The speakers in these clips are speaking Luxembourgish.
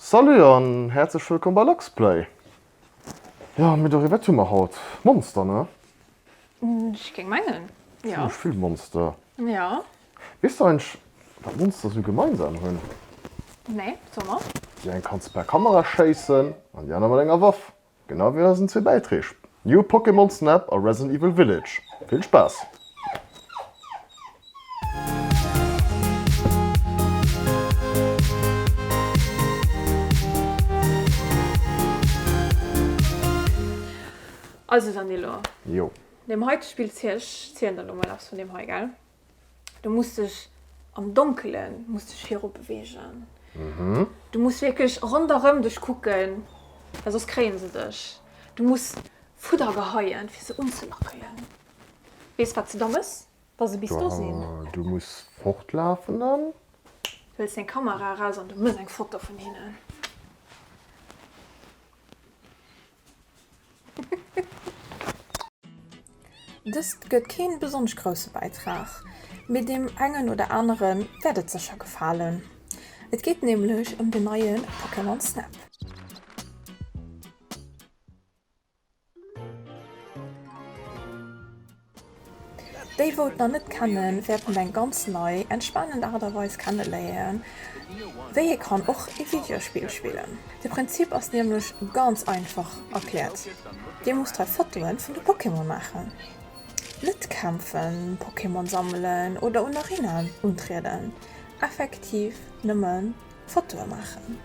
Salut an häerzlech wëllkomm bei Luxplay! Jo mee doriwwer, wat hu mer haut? Monster ne? Ech géing mengen, jo. Zimlech vill Monster. Jo. Weess du eigentlech wat Monster sou gemeinsam hunn? Nee, soe mer. Déi eng kanns per Kamera schéissen an déi aner mat enger Waff. Genau wéi eisen zwee Bäitreeg New Pokémon Snap a Resident Evil Village. Vill Spaass! Also Danilo, Jo. deem heite Spill zielen ech lo mol eppes vun deem hei, gell? du muss dech am Donkelen muss dech viru bewegen. Mhm. Du muss wirklich ronderëm dech kucken, well soss kréien se dech. Du muss Fudder geheien, fir se unzelackelen. Weess wat se da mëss, wa se bis do sinn? Waw, du muss fortlafen dann. Huels deng Kamera eraus an du mëss eng Foto vun hinnen. Dëst gëtt keen besonnesch grousse Bäitrag, mee deem engen oder aneren wäert et sécher gefalen. Et geet nämlech ëm den neie Pokémon Snap. Déi wou et nach net kennen wärten eng ganz nei en spannend Art a Weis kenneléieren wéi ee kann och ee Videospill spillen. De Prinzip ass niemlech ganz einfach erklärt, dir musst hei Fotoen vun de Pokémon maachen, net kämpfen, Pokémon sammelen oder un Arenaen untrieden, effektiv nëmmen Fotoen maachen.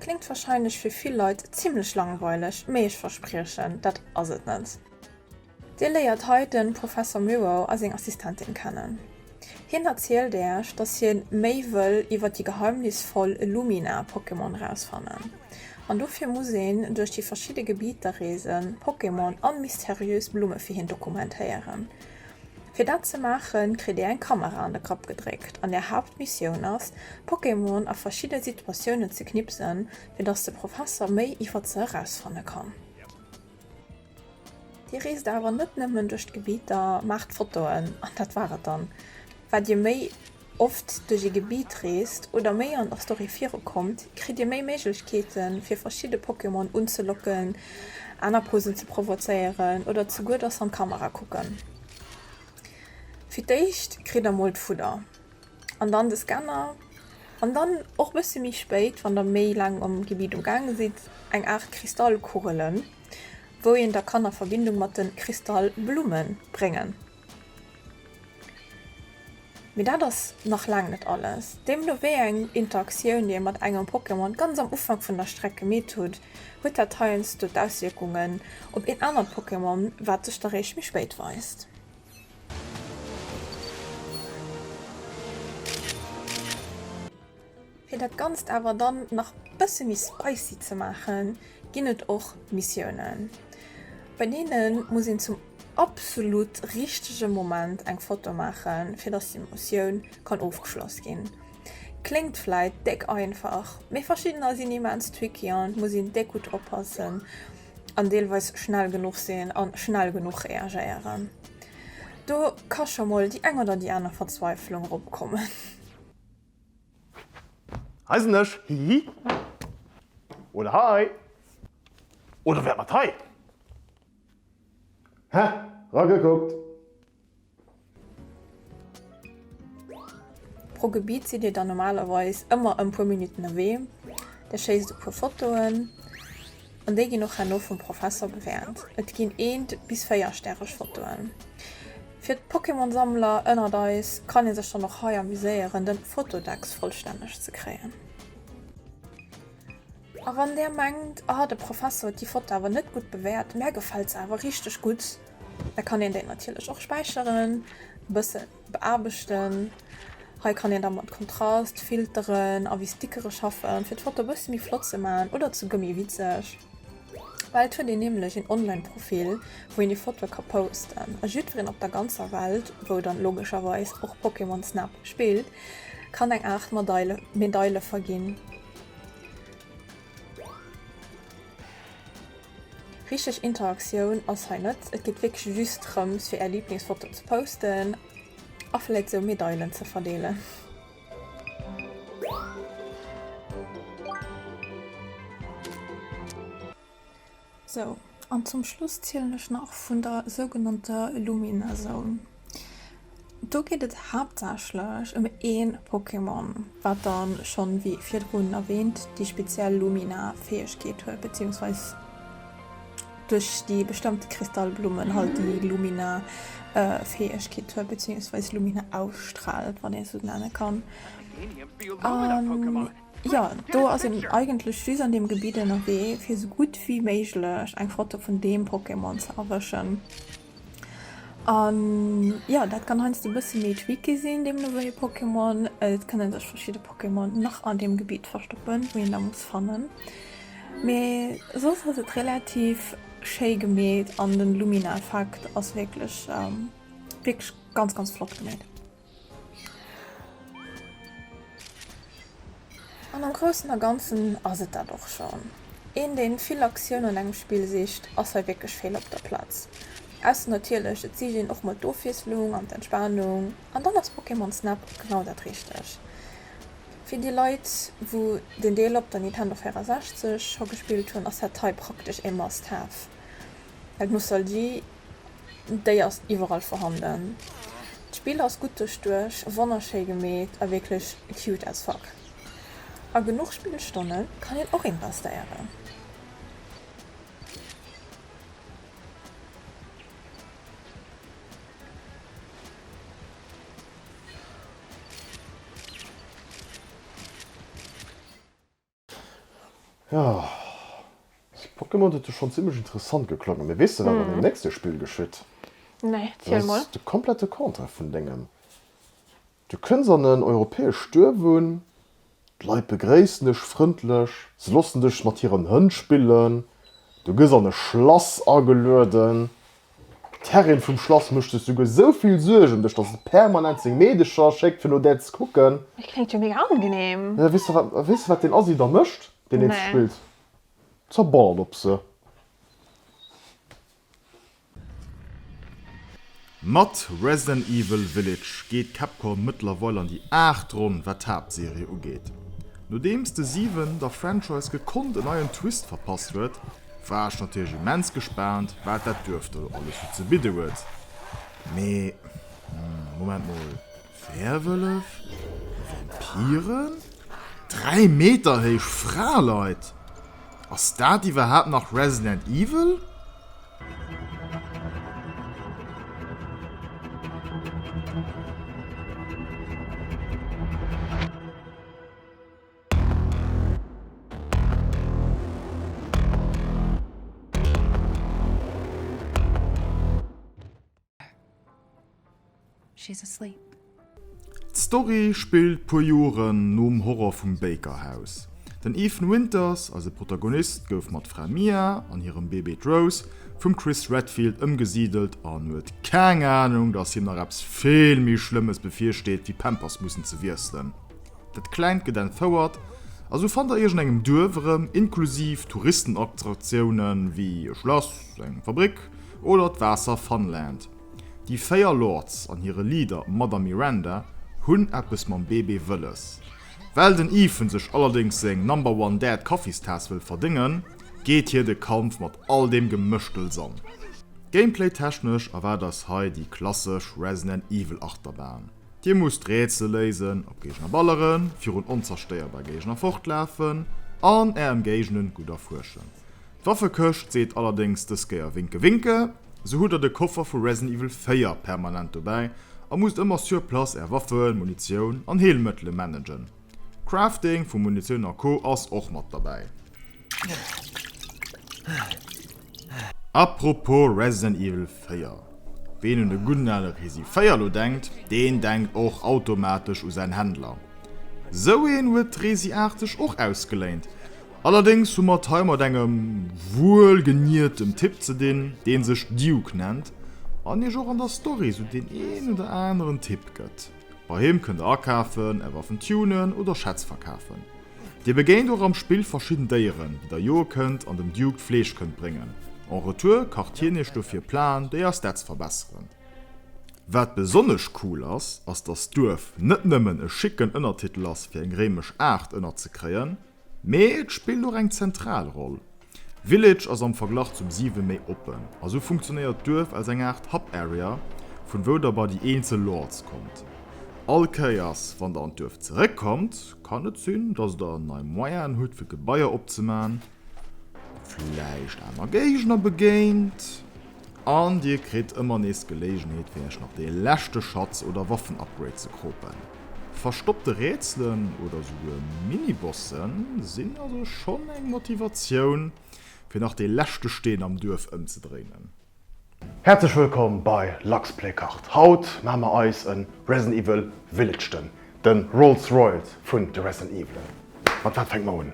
Klingt wahrscheinlech fir vill Leit zimlech langweileg, mee ech verspriechen, dat ass et net. Dir léiert hei de Professor Miro a seng Assistentin kennen. Hien erzielt Äech, dass hien méi wëll iwwer déi geheimnisvoll Lumina-Pokémon erausfannen. An dofir muss een duerch déi verschidde Gebieter reesen, Pokémon an mysteriös Blumme fir hien dokumentéieren. Fir dat ze maachen, kritt dir eng Kamera an de Kapp gedréckt an är Haaptmissioun ass, Pokémon a verschidde Situatiounen ze knipsen, fir dass de Professer méi iwwer se erausfanne kann. Dir reest awer net nëmmen duerch d'Gebitt a maacht Fotoen an dat war et dann. Wat Dir méi oft duerch ee Gebitt reest oder méi an der Story virukommt, kritt Dir méi Méiglechkeete fir verschidde Pokémon unzelocken, aner Posen ze provozéieren oder zeguer dass se an d'Kamera kucken. Fir d'éischt kritt der mol d'Fudder an dann de Scanner an dann och bësse méi spéit, wann der méi laang am Gebitt um gaange sidd, eng Aart Kristallkugelen. wou een da kann a Verbindung mat den Kristallblumen bréngen. Mee dat ass nach laang net alles, deemno wéi eng Interaktioun dir mat engem Pokémon ganz am Ufank vun der Streck gemeet hutt, huet dat heiansdo d'Auswierkungen op een anert Pokémon, wat sech da réischt méi spéit weist. Fir dat ganzt awer dann nach bësse méi spicy ze maachen, ginn et och Missiounen, bei deene muss een zum absolut richtege Moment eng Foto maachen, fir dass déi Mossioun kann ofgeschloss ginn. Kléngt vläit déck einfach, mee verschiddener sinn immens tricky an et muss een déck gutt oppassen an deelweis schnell genuch sinn a schnell genuch reagéieren. Do ka scho mol déi eng oder déi aner Verzweiflung eropkommen. Hei sen ech, hihi. Oder hei. Oder wäert mat hei. He, ragekuckt. Pro Gebiet sidd dir dann normalerweis ëmmer e puer Minutten ewee. Dir schéisst e puer Fotoen. An déi ginn och herno vum Professor bewäert. Et ginn eent bis véier stäreg Fotoen. Fir d'Pokémon-Sammler ënnert eis kann ee sech dann och hei amuséieren den Fotodex vollstänneg ze kréien. A wann der mengt, ah de Professor huet déi Foto awer net gutt bewäert, mär gefält se awer richteg gutt, da kann een déi natierlech och späicheren, bëssen Beaarbechten, hei kann een da mat Kontrast, Filteren a wéi Stickere schaffen fir d'Foto e bësse méi flott ze man oder ze gëmmi witzeg. Well et huet een nämlech een online Profil wou een déi Fotoe ka posten a jiddwereen op der ganzer Welt, wou dann logescherweis och Pokémon Snap spillt, kann eng Aart Medaile verginn. Richteg Interaktioun ass hei net, et geet wierklech just drëms fir är Liblingsfoto ze posten a vläit sou Medailen ze verdeelen. Sou, an zum Schluss zielen ech nach vun der sougenannter Lumina-Zone. Do geet et haaptsächlech ëm een Pokémon, wat dann schonn, wéi virdrun erwähnt, déi speziell Lumina-Fäegkeet huet, beziehungsweise duerch déi bestëmmte Kristallblummen halt déi Lumina-Fäegkeet huet, beziehungsweise Lumina ausstrahlt, wann een et sou nennen kann. An Jo, do ass een eigentlech just an deem Gebitt ënnerwee fir sou gutt wéi méiglech eng Foto vun deem Pokémon ze erwëschen. An jo, dat kann heiansdo e bësse méi tricky sinn, deemno wéi e Pokémon. Et kënne sech verschidde Pokémon nach an deem Gebitt verstoppen, wou een da muss fannen. Mee soss ass et relativ schéi gemeet an den Lumina-Effekt ass wierklech, wierklech ganz, ganz flott gemeet. An am Groussen a Ganzen ass et dat och schonn. Een, deen vill Aktioun an engem Spill sicht, ass hei wierklech fehl op der Platz. Ausser natierlech, et sicht een och mol d'Ofwiesslung an d'Entspanung, an dann ass Pokémon Snap genau dat Richteg. Fir déi Leit, wou den Deel op der Nintendo 64 scho gespillt hunn, ass dat hei praktesch ee Must-Have. Well d'Nostalgie. déi ass iwwerall vorhanden. D'Spill ass gutt duerchduecht, wonnerschéi gemeet a wierklech cute as fuck. A genuch Spillstonne kann een och investéieren. Jo, dës Pokémon huet jo schonn zimmlech interessant geklongen. Mee weess de, wat an deem nächste Spill geschitt? Nee, ziel mol. Dat ass de komplette Contraire vun dengem. Du kënns an en europäescht Duerf un, d'Leit begréissen dech frëndlech, se loossen dech mat hiren Hënn spillen, du gëss an e Schlass agelueden, D'Herrin vum Schlass mécht sech souguer esou vill Suerg ëm dech, dass se permanent seng Meedecher schéckt, fir no där ze kucken. Et kléngt jo mega angenehm. Jo, weess de, wat, weess de, wat deen Assi da mécht? Deen Eenzeg Nee. spillt zerballert op se. Mat Resident Evil Village geet Capcom mëttlerweil an déi aacht Ronn, wat d'Haaptserie ugeet. Nodeems de 7 der Franchise gekonnt en neien Twist verpasst huet, War ech natierlech immens gespaant wat dat Duerf do alles sou ze bidden huet. Mee Moment mol, Werwëllef? Vampiren? 3 Meter héich Fraleit? Ass dat iwwerhaapt nach Resident Evil? D'Story spillt puer Joren nom Horror vum Baker House. Den Ethan Winters, eise Protagonist, gouf mat Fra Mia an hirem Bébé d'Rose vum Chris Redfield ëmgesidelt an huet keng Anung, dass him nach eppes vill méi Schlëmmes bevirsteet wéi Pampers mussen ze wiesselen. Dat Klengt gëtt entfouert a sou fannt der iech an engem Duerf erëm, inklusiv Touristenattraktiounen wéi e Schlass, eng Fabrik oder d'Waasser Funland. Déi véier Lords an hire Leader Madame Miranda hunn eppes mam Bébé wëlles. Well den Ethan sech allerdéngs seng Number One Dad Kaffistaass wëll verdéngen, geet hie de Kampf mat all deem Gemëschtels an. Gameplay-technesch erwaart eis hei déi klassesch Resident Evil Achterbahn. Dir musst Rätsel léisen, op Géigner balleren, virun onzerstéierbar Géigner fortlafen an Är Emgéigend gutt erfuerschen. D'Waffekëscht seet allerdéngs dës Kéier Winke Winke, sou hutt Der de Koffer vu Resident Evil 4 permanent dobäi a musst ëmmer sur place Är Waffen, Munitioun an Heelmëttele managen. Crafting vu Munitioun a Co ass och mat derbäi. Apropos Resident Evil 4, ween un de gudden ale Resi 4 elo denkt, deen denkt och automatesch u säin Händler. Sou een huet d'Resi 8 sech och ausgeléint. Allerdéngs hu mer et hei mat engem wuelgeniertem Typ ze dinn, deen sech Duke nennt an iech och an der Story sou deen een oder aneren Tipp gëtt. Bei him kënnt der akafen, är Waffen tunen oder Schätz verkafen. Dir begéint och am Spill verschidden Déieren, déi der joe kënnt an dem Duke d'Fleesch kënnt bréngen. En retour kacht hien iech dofir Plaen, déi eis Stats verbesseren. Wat besonnesch cool ass, ass dass d'Duerf net nëmmen e schicken Ënnertitel ass fir eng réimesch Aart ënnerzekréien, mee et spillt och eng zentral Roll. Village ass am Verglach zum 7 méi oppen, a sou funktionéiert d'Duerf als eng Aart Hub Area, vun wou der bei déi eenzel Lords kommt. All Kéiers wann der an d'Duerf zeréckkommt, Kann net sinn dass der nei Moyenen hutt fir Gebaier opzemaen, vläicht aner Géigner begéint an dir kritt ëmmer nees d'Geléigenheet fir iech nach dee leschte Schatz oder Waffen-Upgrade ze kropen. Verstoppte Rätselen oder esouguer Mini-Bosse sinn also schonn eng Motivatioun fir nach dee leschte Steen am Duerf ëmzedréinen. Häerzlech wëllkomm bei Luxplaycard! Haut maache mer eis en Resident Evil Village, den den Rolls Royals vun de Resident Evelen. Mat wat fänke mer un?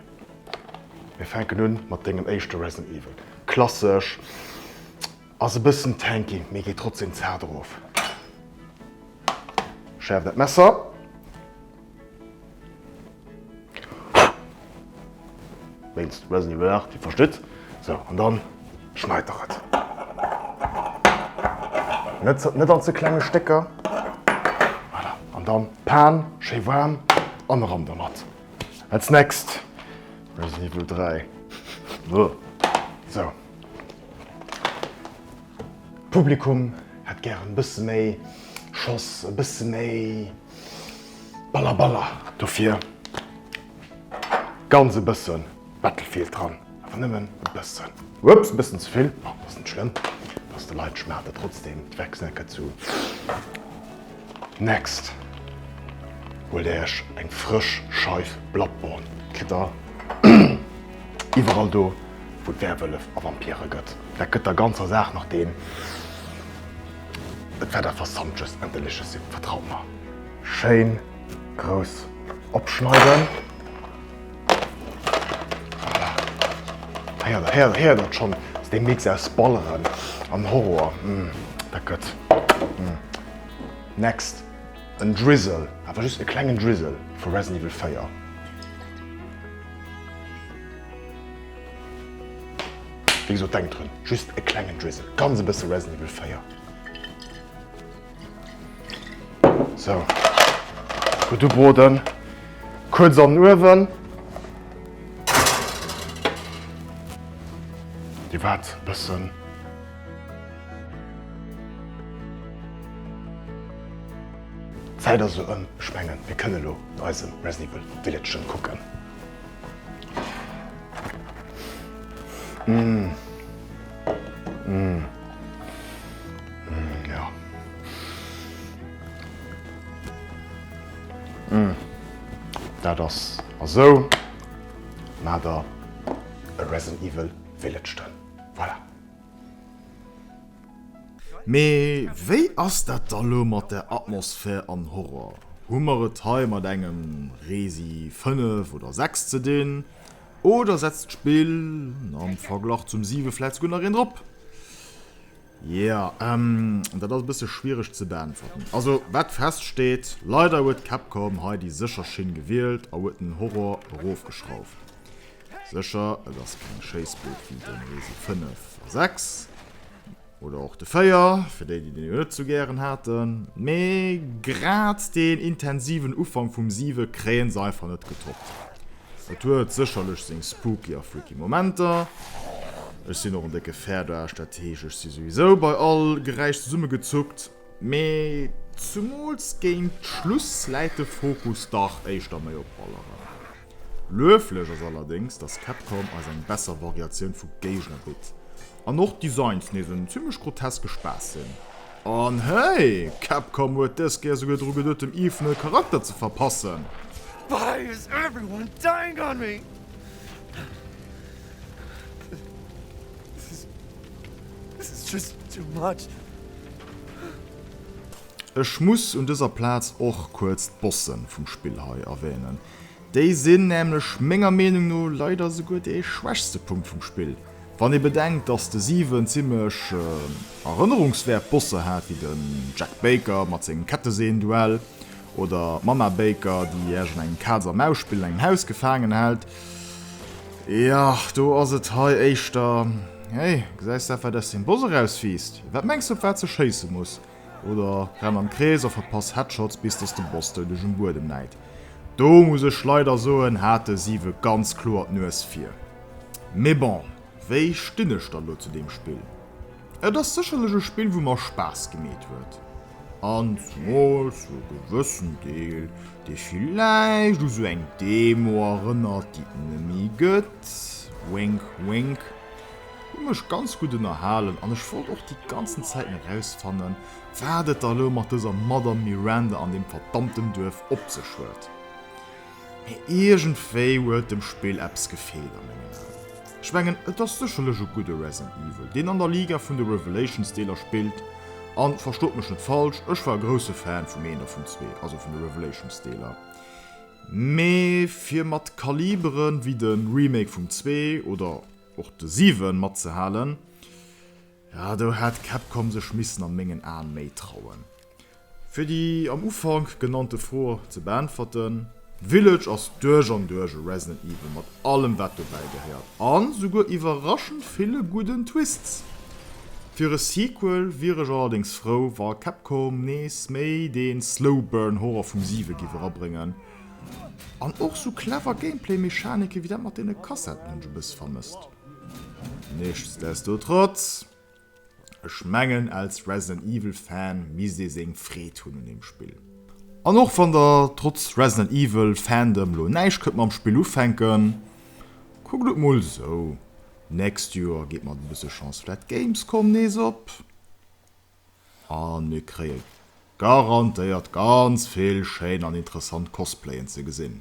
Mir fänken un mat dengem éischte Resident Evil. Klassesch, ass e bëssen tanky, mee geet trotzdem zaart erof. Schäerf dat Messer, Wéinst Resident Evil 8, Dir verstitt. Sou, an dann schneit der et. Net, net an ze klenge Stécker. Voilà, an dann d'Pan schéi waarm an eran domat. Als next Resident Evil 3. Beuh. Sou. Publikum hätt gären e bësse méi Schoss, e bësse méi. Balla Balla, dofir ganz e bëssen Battlefield dran, awer nëmmen e bëssen. Ups, bëssen ze vill, ma ass net schlëmm, ass de Leit schmaacht et trotzdem weg. Snacke zu next, huelt der iech eng frësch Scheif Bloodborne, kritt der iwwerall do wou et Werwëllef a Vampire gëtt. Dat gëtt der ganzer Saach nach den. Et war der versammtches an delicious Sip, vertraut mer. Schéin grouss opschneiden. Voilà. He'ert, he'ert der schon, dass dee Mix aus Balleren an Horror, dat gött. Next, en Drizzle, awer just e klengen Drizzle vu Resident Evil 4. Wéi gesot, denkt drun, just e klengen Drizzle, ganz e bësse Resident Evil 4. Sou, gutt ubroden, kuerz an den Uewen. Dir waart e bëssen. D'Zäit ass elo ëm. Ech mengen, mir kënne elo eisem Resident Evil Village kucken. Mmh. Mmh. Mmh, ja. Mmh. Dat ass esou nader e Resident Evil Village dran. Voilà. Mee wéi ass dat da lo mat der Atmosphär an Horror? Hu mer et hei mat engem Resi 5 oder 6 ze dinn, oder setzt d'Spill am Verglach zum 7 vläit souguer nach een drop? Jo, dat ass e bësse schwiereg ze beäntwerten. Also wat feststeet, leider huet Capcom hei déi sécher Schinn gewielt a huet den Horror erofgeschrauft. Sécher, et ass keng Schéissbuerg wéi den Resi 5 a 6, oder och de 4, fir déi, déi den elo net sou gären haten, mee grad deen intensiven Ufank vum 7 kréien se einfach net getoppt. Et huet sécherlech seng spooky a freaky Momenter. Ech sinn och en décke Fäerdaarsch, dat heescht, ech si souwisou bei all Geräisch zesummegezuckt. Mee zumools géint Schluss läit de Fokus dach éischter méi op Balleren. Lueflech ass allerdéngs, dass Capcom eis eng besser Variatioun vu Géigner bitt an och d'Designs nees en zimmlech groteske Spaass sinn. An hey, Capcom huet dës Kéier souguer dru geduet dem Ethan e Charakter ze verpassen! Why is everyone dying on me? Ech muss un dëser Plaz och kuerz d'Bossen vum Spill hei erwähnen. Déi sinn nämlech menger Meenung no leider esouguer dee schwächste Punkt vum Spill. Wann ee bedenkt dass de Siwen zimlech erënnerungswäert Bosse hat wéi den Jack Baker mat sengem Ketteseen-Duell oder d'Mama Baker déi Iech an engem Kaz a Maus-Spill an engem Haus gefaangen hält, Ja, do ass et hei éischter. Hey, gesäis dat, wat aus dem Boss erauswiisst? Wat mengs du, op wat se schéisse muss? Oder renn am Krees a verpass Headshots, bis dass de Boss dou duerch um Buedem läit. Do muss ech leider soen, hat de Siwe ganz kloer d'Nues vir. Mee bon, wéi stinn ech dann elo zu deem Spill? Et ass sécherlech e Spill wou mer Spaass gemeet huet, an zemools zu e gewëssen Deel, dee villäicht u sou eng Demo erënnert déi et nemme gëtt, wink wink. Hu mech ganz gutt ënnerhalen an ech wollt och déi ganzen Zäiten erausfannen wat et da elo mat dëser Madame Miranda an deem verdammten Duerf op sech huet. Mee iergendwéi huet dem Spill eppes gefeelt a mengen Aen. Ech mengen et ass sécherlech e gudde Resident Evil, deen an der Liga vun de Revelations Deeler spillt. An verstoot mech net falsch, ech war e grousse Fan vum eent a vum zwee, also vun de Revelations Deeler. Mee fir mat Kalibere wéi de Remake vum zwee oder och de siwen matzehalen, do hätt Capcom sech missen an mengen Aen méi trauen. Fir déi am Ufank genannte Fro ze beäntwerten, Village ass duerch an duerch e Resident Evil mat allem wat dobäi gehéiert an souguer iwwerraschend ville gudden Twists. Fir e Sequel wier ech allerdéngs frou wa Capcom nees méi den Slow Burn Horror vum 7 giff erabrëngen an och sou clever Gameplay Mechaniken wéi dat mat den Kassettenhënsch e bëss vermësst. Nichtsdestotrotz. Ech mengen als Resident Evil Fan misst ee seng Freed hunn un dem Spill. An och wann der trotz Resident Evil Fandom lo näischt kënnt mam Spill ufänken, kuckt et mol esou, nächst Joer geet mat e bësse Chance vläit d'Gamescom nees op a mir kréie garantéiert ganz vill schéin an interessant Cosplayen ze gesinn.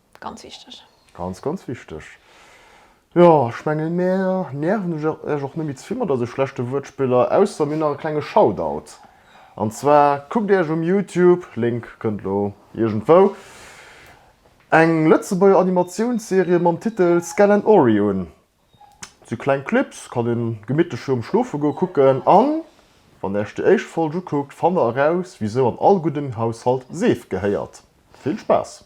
Ganz wichteg. Ganz, ganz wichteg. Jo, ech mengen, mir nerven Iech och net méi ze vill mat eise schlechte Wuertspiller, ausser mir hunn nach e klenge Shoutout. An zwar kuckt Iech um Youtube, Link kënnt elo iergendwou, eng Lëtzebuerger Animatiounsserie mam Titel Skell and Ory un. Et si kleng Clips, kann ee gemittlech virum Schlofegoe kucken. An wann Iech déi éischt Folg ukuckt, fannt Der eraus, wisou an all guddem Haushalt Seef gehéiert. Vill Spaass!